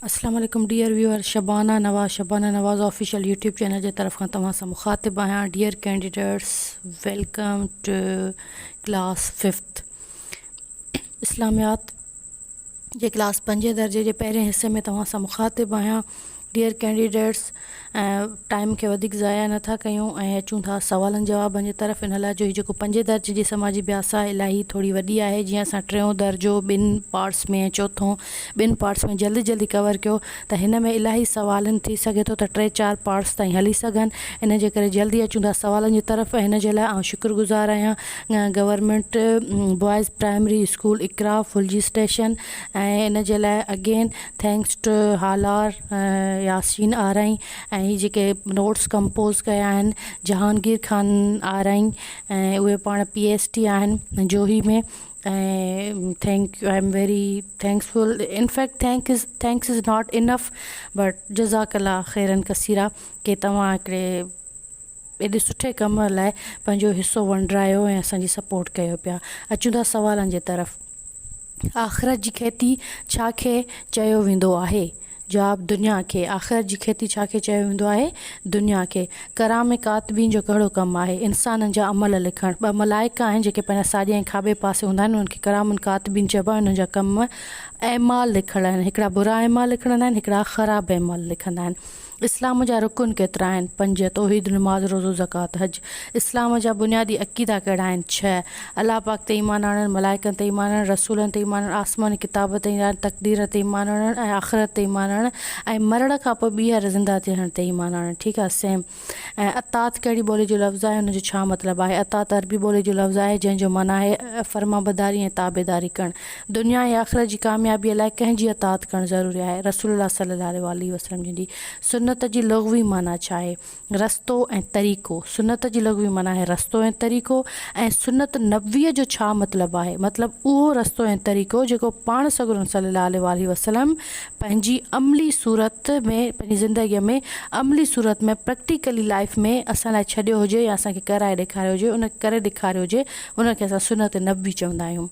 اسلام عليڪم dear viewer Shabana Nawaz Shabana Nawaz official YouTube channel جي طرف کان توهان سان مخاطب آهيان dear candidates welcome to class fifth اسلاميات جي ڪلاس پنجين درجي جي پهرين حصي ۾ توهان سان مخاطب آهيان Dear Candidates ۽ ٽائيم کي وڌيڪ ضايع نه ٿا ڪيون ۽ اچون ٿا سوالن جوابن جي طرف ان لاء جو هي جيڪو پنجين درجي جي سماجي بياس آهي الاهي ٿوري وڏي آهي جيئن اسان ٽيون درجو ٻن پارٽس ۾ ۽ چوٿون ٻن پارٽس ۾ جلدي جلدي ڪور ڪيو ته هن ۾ الاهي سوال آهن ٿي سگهي ٿو ته ٽي چار پارٽس تائين هلي سگهن ان جي ڪري جلدي اچون ٿا سوالن جي طرف ۽ هن جي لاء آئون شڪر گذار آهيان government boys primary school Iqra Phulji station ۽ ان جي لاء again thanks to Halar Yasin Arain ۽ هي جيڪي نوٽس ڪمپوز ڪيا آهن جهانگير خان آرائين ۽ اهي پاڻ پي ايس ٽي آهن Johi ۾ ۽ thank I am very thankful in fact thanks thanks is not enough but جزاڪ الله خيرا ڪثيرا ڪي تواهان هڪڙي ايڏي سٺي ڪم لاء پنهنجو حصو ونڊرايو ۽ اسان جي سپورٽ ڪيو پيا اچون ٿا سوالن جي طرف آخرت جي کيتي ڇا کي چيو ويندو آهي جواب دنيا کي آخرت جي کيتي ڇا کي چيو ويندو آهي دنيا کي ڪرام ڪاتبين جو ڪهڙو ڪم آهي انسانن جا عمل لکڻ ٻه ملائڪ آهن جيڪي پنهنجا ساڄي ۽ کاٻي پاسي هوندا آهن انهن کي ڪرام ڪاتبين چئبو آهي انهن جا ڪم اعمال لکڻ آهن هڪڙا برا اعمال لکڻ هوندا آهن هڪڙا خراب اعمال لکندا آهن اسلام جا رڪن ڪيترا آهن؟ پنج، توحيد، نماز، روزو، زڪوات، حج. اسلام جا بنيادي عقيدا ڪهڙا آهن؟ ڇهه، الله پاڪ تي ايمان آڻڻ، ملائڪن تي ايمان آڻڻ، رسولن تي ايمان آڻڻ، آسماني ڪتابن تي ايمان آڻڻ، تقدير تي ايمان آڻڻ ۽ آخرت تي ايمان آڻڻ ۽ مرڻ کان پوء ٻيهر زنده ٿيڻ تي ايمان آڻڻ ٺيڪ آهي سيم ۽ اطاعت ڪهڙي ٻولي جو لفظ آهي ان جو ڇا مطلب آهي؟ اطاعت عربي ٻولي جو لفظ آهي جنهن جو معنيٰ آهي فرمانبرداري ۽ تابعداري ڪرڻ دنيا ۽ آخرت جي ڪاميابيء لاء ڪنهن جي اطاعت ڪرڻ ضروري آهي؟ رسول الله صلّي الله عليه واٰله وسلّم جن جي سنّت جي لغوي معنيٰ ڇا آهي؟ رستو ۽ طريقو، سنّت جي لغوي معنيٰ آهي رستو ۽ طريقو ۽ سنّت نبويء جو ڇا مطلب آهي؟ مطلب اهو رستو ۽ طريقو جيڪو پاڻ سڳورن صلّي الله عليه واٰله وسلّم پنهنجي عملي صورت ۾ پنهنجي زندگيء ۾ عملي صورت ۾ Practically Life ۾ اسان لاء ڇڏيو هجي يا اسان کي ڪرائي ڏيکاريو هجي ان ڪري ڏيکاريو هجي ان کي اسان سنّت نبوي چوندا آهيون.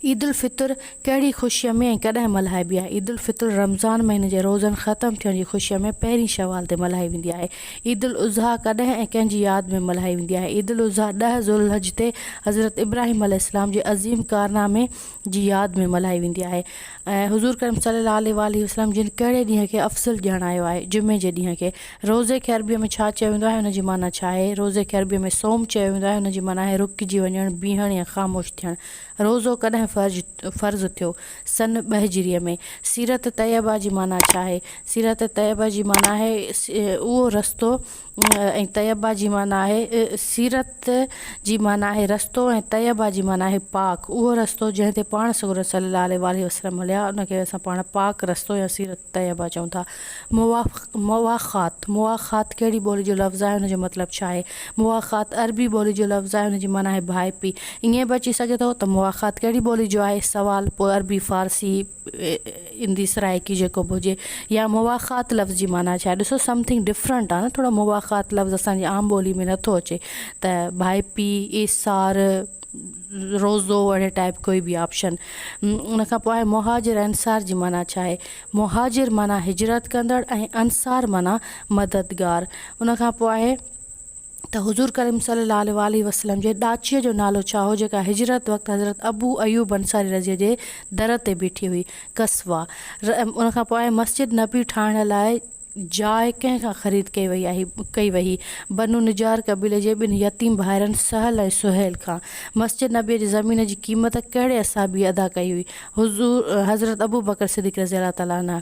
عيدالفطر ڪهڙي خوشيء ۾ ۽ ڪڏهن ملهائبي آهي؟ عيدالفطر رمضان مهيني جي روزن ختم ٿيڻ جي خوشيء ۾ پهرين شوال تي ملهائي ويندي آهي. عيدالاضحيٰ ڪڏهن ۽ ڪنهن جي ياد ۾ ملهائي ويندي آهي؟ عيدالاضحيٰ ڏهه ذوالحج تي حضرت ابراهيم عليه السلام جي عظيم ڪارنامي جي ياد ۾ ملهائي ويندي آهي. ۽ حضور ڪريم صلي الله عليه واٰله وسلم جن ڪهڙي ڏينهن کي افضل ڄاڻايو آهي؟ جمعي جي ڏينهن کي. روزي کي عربيء ۾ ڇا چيو ويندو آهي ان جي معنيٰ ڇا آهي؟ روزي کي عربيء ۾ صوم چيو ويندو آهي ان جي معنيٰ آهي رڪجي وڃڻ، بيهڻ يا خاموش ٿيڻ. روزو ڪڏهن فرج فرض ٿيو؟ سن ٻه هجريء ۾. سيرت طيبه جي معنيٰ ڇا آهي؟ سيرت طيبه جي معنيٰ آهي اهو رستو. ۽ طيبه جي معنيٰ آهي سيرت جي معنيٰ آهي رستو ۽ طيبه جي معنيٰ آهي پاڪ اهو رستو جنهن تي پاڻ سڳورن صلّي الله عليه واٰله وسلّم هليا ان کي اسان پاڻ پاڪ رستو يا سيرت طيبه چئون ٿا. مواخات، مواخات ڪهڙي ٻولي جو لفظ آهي ان جو مطلب ڇا آهي؟ مواخات عربي ٻولي جو لفظ آهي ان جي معنيٰ آهي ڀائپي ائين به اچي سگهي ٿو ته مواخات ڪهڙي ٻولي جو آهي سوال پوء عربي فارسي، ايندي سرائيڪي جيڪو به هجي يا مواخات لفظ جي معنيٰ ڇا آهي ڏسو سمٿنگ ڊفرنٽ آهي نه ٿورو مواخات لفظ اسان جي عام ٻولي ۾ نٿو اچي ته ڀائپي ايسار روزو اهڙي ٽائپ ڪوئي بي آپشن ان کان پوء مهاجر انصار جي معنيٰ ڇا آهي مهاجر معنيٰ هجرت ڪندڙ ۽ انصار معنيٰ مددگار ان کان پوء ته حضور ڪريم صلي الله عليه واٰله وسلم جي ڏاچيء جو نالو ڇا هو جيڪا هجرت وقت حضرت ابو ايوب انصاري رضه جي در تي بيٺي هئي؟ قصويٰ، ر، ان کان پوء مسجد نبوي ٺاهڻ لاء جاء ڪنهن کان خريد ڪئي وئي آهي؟ ڪئي وهي؟ بنو نجار قبيلي جي ٻن يتيم ڀائرن سهل ۽ سهيل کان مسجد نبوي جي زمين جي قيمت ڪهڙي اصحابيء ادا ڪئي هئي؟ حضور حضرت ابو بڪر صديق رضي الله تعالٰي عنه.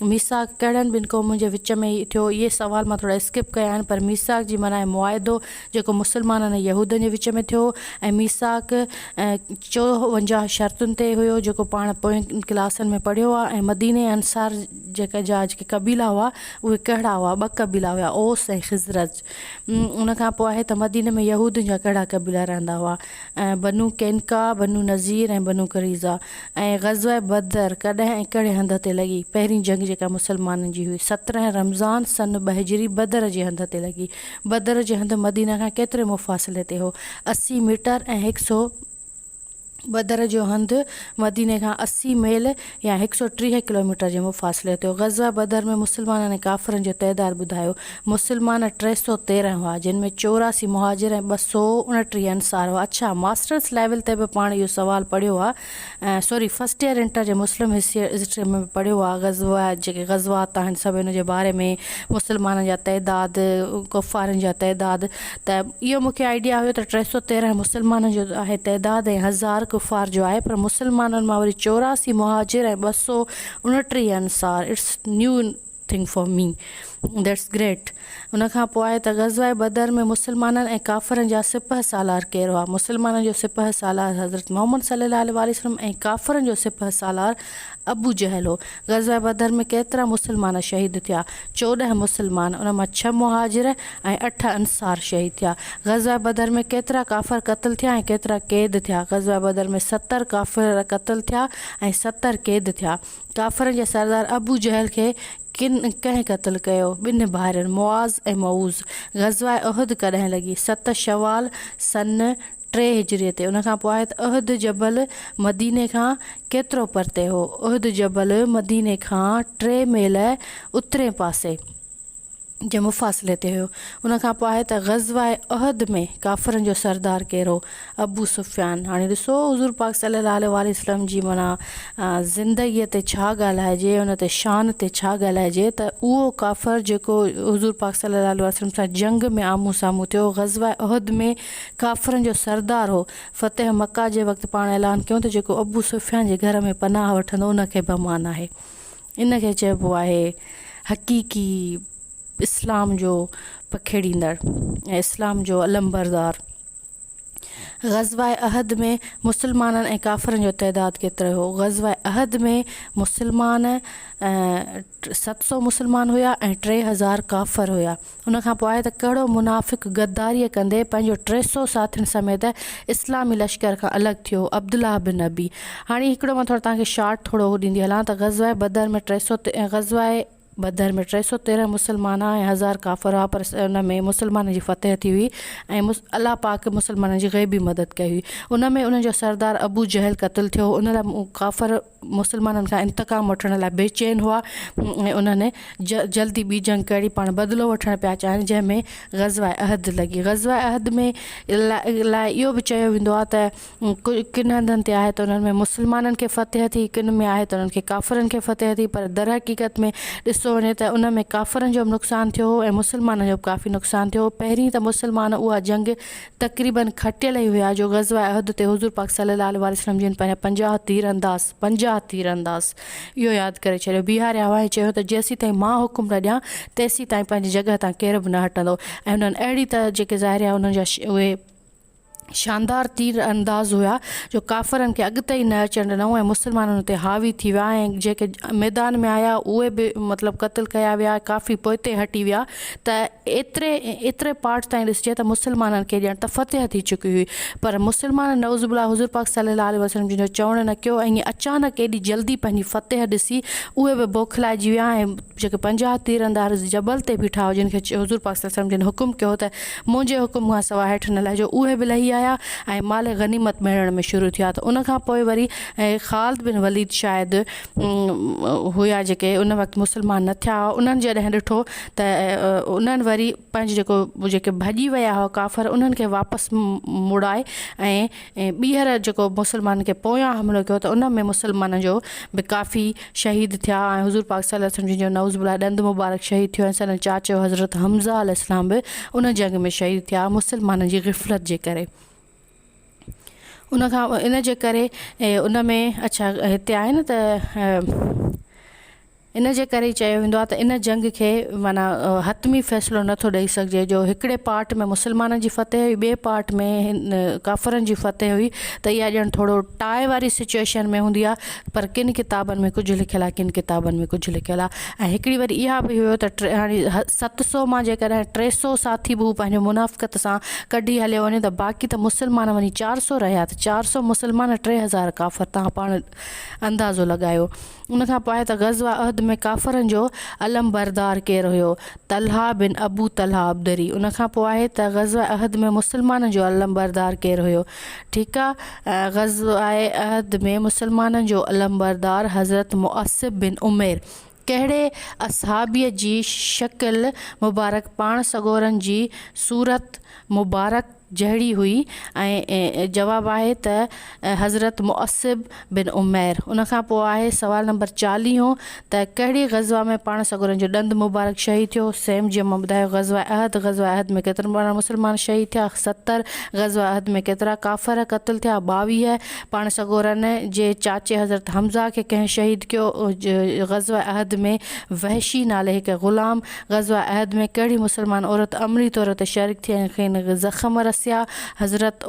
ميثاق ڪهڙن ٻن قومن جي وچ ۾ ٿيو؟ اهي سوال مان ٿورا اسڪپ ڪيا آهن پر ميثاق جي معنيٰ آهي معاهدو جيڪو مسلمانن ۽ يهودن جي وچ ۾ ٿيو ۽ ميثاق چوونجاهه شرطن تي هيو جيڪو پاڻ پوين ڪلاسن ۾ پڙهيو آهي ۽ مديني ۽ انصار جا جيڪي قبيلا هئا اهي ڪهڙا هئا ٻه قبيلا هيا اوس ۽ خزرج. ان کان پوء آهي ته مديني ۾ يهودين جا ڪهڙا قبيلا رهندا هئا ۽ بنو قينقاع، بنو نضير ۽ بنو قريظه ۽ غزوه بدر ڪڏهن ۽ ڪهڙي هنڌ تي لڳي؟ پهرين جنگ جيڪا مسلمانن جي هئي سترهن رمضان سن ٻه هجري بدر جي هنڌ تي لڳي. بدر جي هنڌ مديني کان ڪيتري مفاصلي تي هو؟ اسي ميٽر ۽ هڪ سو. بدر جو هنڌ مديني کان اسي ميل يا هڪ سؤ ٽيهه ڪلوميٽر جي مفاصلي تي هو. غزوه بدر ۾ مسلمانن ۽ ڪافرن جو تعداد ٻڌايو. مسلمان ٽي سؤ تيرنهن هئا، جن ۾ چوراسي مهاجر ۽ ٻه سؤ اڻٽيهه انصار هئا. اڇا ماسٽرس ليول تي به پاڻ اهو سوال پڙهيو آ سوري فرسٽ ايئر انٽر جي مسلم هسٽري ۾ به پڙهيو آ غزوه جيڪي غزوات آهن سڀ ان جي باري ۾ مسلمانن جا تعداد ڪفارن جا تعداد ته اهو مون کي آئيڊيا هيو ته ٽي سؤ تيرنهن مسلمانن جو آهي تعداد ۽ هزار ڪفار جو آهي پر مسلمانن مان وري چوراسي مهاجر ۽ ٻه سؤ اڻٽيهه انصار it's new thing for me that's great ان کان پوء آهي ته غزوه بدر ۾ مسلمانن ۽ ڪافرن جا سپهه سالار ڪير هئا مسلمانن جو سپهه سالار حضرت محمد صلي الله عليه وسلم ۽ ڪافرن جو سپهه سالار ابو جهل هو. غزوه بدر ۾ ڪيترا مسلمان شهيد ٿيا؟ چوڏهن مسلمان، ان مان ڇهه مهاجر ۽ اٺ انصار شهيد ٿيا. غزوه بدر ۾ ڪيترا ڪافر قتل ٿيا ۽ ڪيترا قيد ٿيا؟ غزوه بدر ۾ ستر ڪافر قتل ٿيا ۽ ستر قيد ٿيا. ڪافرن جي سردار ابو جهل کي ڪن ڪنهن قتل ڪيو؟ ٻنهن ڀائرن معاذ ۽ معوذ. غزوه احد ڪڏهن لڳي؟ ست شوال سن ٽي هجري تي ان کان پوء آيت احد جبل مديني کان ڪيترو پرتي هو؟ احد جبل مديني کان ٽي ميل اترئين پاسي جي مفاصلي تي هيو ان کان پوء آيت غزوه احد ۾ ڪافرن جو سردار ڪير هو؟ ابو سفيان هاڻي ڏسو حضور پاڪ صلي الله عليه واٰله وسلم جي معنيٰ زندگي تي ڇا ڳالهائجي ان تي شان تي ڇا ڳالهائجي ته اهو ڪافر جيڪو حضور پاڪ صلي الله عليه واٰله وسلم سان جنگ ۾ آمهون سامهون ٿيو غزوه احد ۾ ڪافرن جو سردار هو. فتح مڪه جي وقت پاڻ اعلان ڪيو ته جيڪو ابو سفيان جي گهر ۾ پناهه وٺندو ان کي به امان آهي. ان کي چئبو آهي حقيقي اسلام جو پکيڙيندڙ ۽ اسلام جو علمبردار. غزوه احد ۾ مسلمانن ۽ ڪافرن جو تعداد ڪيترو هو؟ غزوه احد ۾ مسلمان ۽ ست سؤ مسلمان هيا ۽ ٽي هزار ڪافر هيا. ان کان پوء ته ڪهڙو منافق غداريء ڪندي پنهنجو ٽي سؤ ساٿين سميت اسلامي لشڪر کان الڳ ٿيو، عبدالله بن ابي. هاڻي هڪڙو مان ٿورو توهان کي شارٽ ٿورو هو ڏيندي هلان ته غزوه بدر ۾ ٽي سؤ غزوه بدر ۾ ٽي سؤ تيرنهن مسلمان ۽ هزار ڪافر هئا پر ان ۾ مسلمانن جي فتح ٿي هئي ۽ الله پاڪ مسلمانن جي غيبي مدد ڪئي هئي. ان ۾ انهن جو سردار ابو جهل قتل ٿيو هو. ان لاء ڪافر. مسلمانن کان انتقام وٺڻ لاء بيچين هئا ۽ انهن جلد ئي ٻي جنگ ڪري پاڻ بدلو وٺڻ پيا چاهن جنهن ۾ غزوه عهد لڳي غزوه عهد ۾ لاء اهو به چيو ويندو آهي ته ڪن هنڌن تي آهي ته انهن ۾ مسلمانن کي فتح ٿي ڪن ۾ آهي ته انهن کي ڪافرن کي فتح ٿي پر در حقيقت ۾ ڏسو وڃي ته ان ۾ ڪافرن جو به نقصان ٿيو هو ۽ مسلمانن جو به ڪافي نقصان ٿيو هو پهرين ته مسلمان اها جنگ تقريباً کٽيل ئي هيا جو غزوه احد تي حضور پاڪ صلّي الله عليه واٰله وسلّم جن پنهنجا پنجاهه تير انداز، پنجاهه تير انداز، اهو ياد ڪري ڇڏيو، بيهاريا هئا ۽ چيو ته جيسيتائين مان حڪم نه ڏيان تيسيتائين پنهنجي جڳهه تان ڪير به نه هٽندو ۽ انهن اهڙي طرح جيڪي ظاهريا انهن جا اهي شاندار تير انداز هيا جو ڪافرن کي اڳتي ئي نه اچڻ ڏنائون ۽ مسلمانن تي حاوي ٿي ويا ۽ جيڪي ميدان ۾ آيا اهي به مطلب قتل ڪيا ويا ڪافي پوئتي هٽي ويا ته ايتري ايتري پارٽ تائين ڏسجي ته مسلمانن کي ڄڻ ته فتح ٿي چڪي هئي پر مسلمان نعوذ بالله حضور پاڪ صلي الله عليه وسلم جن جو چوڻ نه ڪيو ۽ اچانڪ ايڏي جلدي پنهنجي فتح ڏسي اهي به بوکلائجي ويا ۽ جيڪي پنجاهه تيراندار جبل تي بيٺا هئا جن کي حضور پاڪ صلي الله عليه وسلم جن حڪم ڪيو ته منهنجي حڪم کان سواء هيٺ نه لهجو اهي به لهي آيا ۽ مال غنيمت ميڙڻ ۾ شروع ٿيا ته ان کان پوء وري خالد بن وليد شايد هيا جيڪي ان وقت مسلمان نه ٿيا هئا انهن جڏهن ڏٺو ته انهن وري پنهنجو جيڪو جيڪي ڀڄي ويا هئا ڪافر انهن کي واپس موڙائي ۽ ٻيهر جيڪو مسلمانن کي پويان حملو ڪيو ته ان ۾ مسلمانن جو به ڪافي شهيد ٿيا ۽ حضور پاڪ صلي الله عليه وسلم جن جو نعوذ بالله ڏند مبارڪ شهيد ٿيو ۽ سندن چاچو حضرت حمزه عليه السلام به ان جنگ ۾ شهيد ٿيا مسلمانن جي غفلت جي ڪري ان کان ان جي ڪري ان ۾ اڇا هتي آهي نه ته ان جي ڪري چيو ويندو آهي ته ان جنگ کي معنيٰ حتمي فيصلو نٿو ڏئي سگهجي جو هڪڙي پارٽ ۾ مسلمانن جي فتح هئي ٻي پارٽ ۾ هن ڪافرن جي فتح هئي ته اها ڄڻ ٿورو ٽاء واري سچويشن ۾ هوندي آهي پر ڪن ڪتابن ۾ ڪجهه لکيل آهي ڪن ڪتابن ۾ ڪجهه لکيل آهي ۽ هڪڙي وري اها به هيو ته ٽي هاڻي ست سو مان جيڪڏهن ٽي سو ساٿي به هو پنهنجو منافقت سان ڪڍي هليو وڃي ته باقي ته مسلمان وڃي چار سو رهيا ته چار سو مسلمان ۽ ٽي هزار ڪافر تان پاڻ اندازو لڳايو ان کان پوء ته غزوه احد ۾ ڪافرن جو علم بردار ڪير هيو طلحه بن ابو طلحه عبدري ان کان پوء آهي ته غزوه احد ۾ مسلمانن جو علم بردار ڪير هيو ٺيڪ آ. غزوه احد ۾ مسلمانن جو علمبردار حضرت مؤصب بن عمير ڪهڙي اصحابي جي شڪل مبارڪ پاڻ سڳورن جي صورت مبارڪ جهڙي هئي ۽ جواب آهي ته حضرت مؤصب بن عمير ان کان پوء آهي سوال نمبر چاليهون ته ڪهڙي غزوه ۾ پاڻ سڳورن جو ڏند مبارڪ شهيد ٿيو؟ سيم جي مان ٻڌايو غزوه احد غزوه احد ۾ ڪيترن پاڻ مسلمان شهيد ٿيا؟ ستر غزوه احد ۾ ڪيترا ڪافر قتل ٿيا؟ ٻاويهه پاڻ سڳورن جي چاچي حضرت حمزه کي ڪنهن شهيد ڪيو؟ غزوه احد ۾ وحشي نالي هڪ غلام غزوه احد ۾ ڪهڙي مسلمان عورت عملي طور تي شريڪ ٿي ۽ کين زخم رسيا؟ حضرت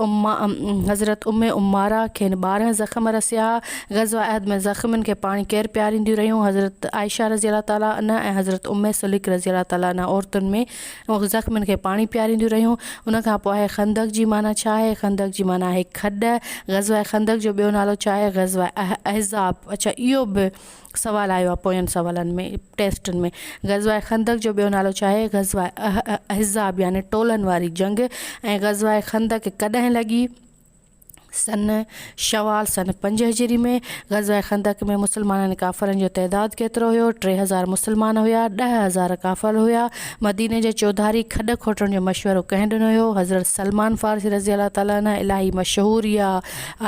حضرت ام عماره کين ٻارهن زخم رسيا ها. غزوه احد ۾ زخمين کي پاڻي ڪير پيارينديون رهيون؟ حضرت عائشه رضي الله تعالٰي عنها ۽ حضرت ام سليق رضي الله تعالٰي عنها عورتن ۾ زخمين کي پاڻي پيارينديون رهيون. ان کان پوء آهي خندق جي معنيٰ ڇا آهي؟ خندق جي معنيٰ آهي کڏ. غزوه خندق جو ٻيو نالو ڇا آهي؟ غزوه احزاب. اڇا اهو به سوال آيو آهي پوين سوالن ۾ ٽيسٽن ۾ غزوه خندق جو ٻيو نالو ڇا آهي غزوه احزاب يعني ٽولن واري جنگ ۽ غزوه خندق ڪڏهن لڳي سن شوال سن پنج هجري ۾ غزوه خندق ۾ مسلمانن ڪافرن جو تعداد ڪيترو هيو ٽي هزار مسلمان هيا ڏه هزار ڪافر هيا مديني جي چوڌاري کڏ کوٽڻ جو مشورو ڪنهن ڏنو هيو حضرت سلمان فارسي رضي الله تعالٰي عنه الاهي مشهور يا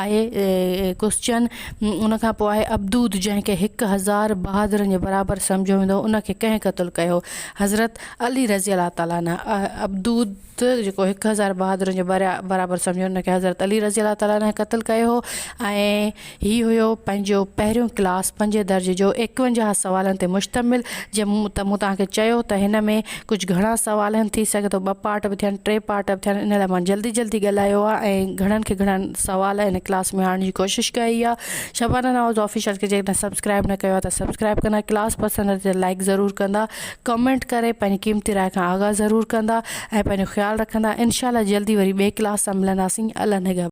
آهي ڪسچن ان کان پوء آهي عبدود جنهن کي هڪ هزار بهادرن جي برابر سمجهيو ويندو هو ان کي ڪنهن قتل ڪيو حضرت علي رضي الله تعالٰي عنه عبدود جيڪو هڪ هزار بهادرن جي برابر سمجهيو ان کي حضرت علي رضي الله تعالٰي عنه قتل ڪيو هو ۽ هي هيو پنهنجو پهريون ڪلاس پنجين درجي جو ايڪونجاهه سوالن تي مشتمل جنهن ته مون توهان کي چيو ته هن ۾ ڪجهه گهڻا سوال آهن ٿي سگهي ٿو ٻه پارٽ به ٿين ٽي پارٽ به ٿين ان لاء مان جلدي جلدي ڳالهايو آهي ۽ گهڻن کي گهڻا سوال هن ڪلاس ۾ آڻڻ جي ڪوشش ڪئي آهي شبانه نواز آفيشل کي جيڪڏهن سبسڪرائب نه ڪيو آهي ته سبسڪرائب ڪندا ڪلاس پسند اچي ته لائڪ ضرور ڪندا ڪمينٽ ڪري پنهنجي قيمتي راء کان آگاهه ضرور ڪندا ۽ پنهنجو خيال رکندا انشاء الله جلدي وري ٻئي ڪلاس سان ملنداسين الله نگهبان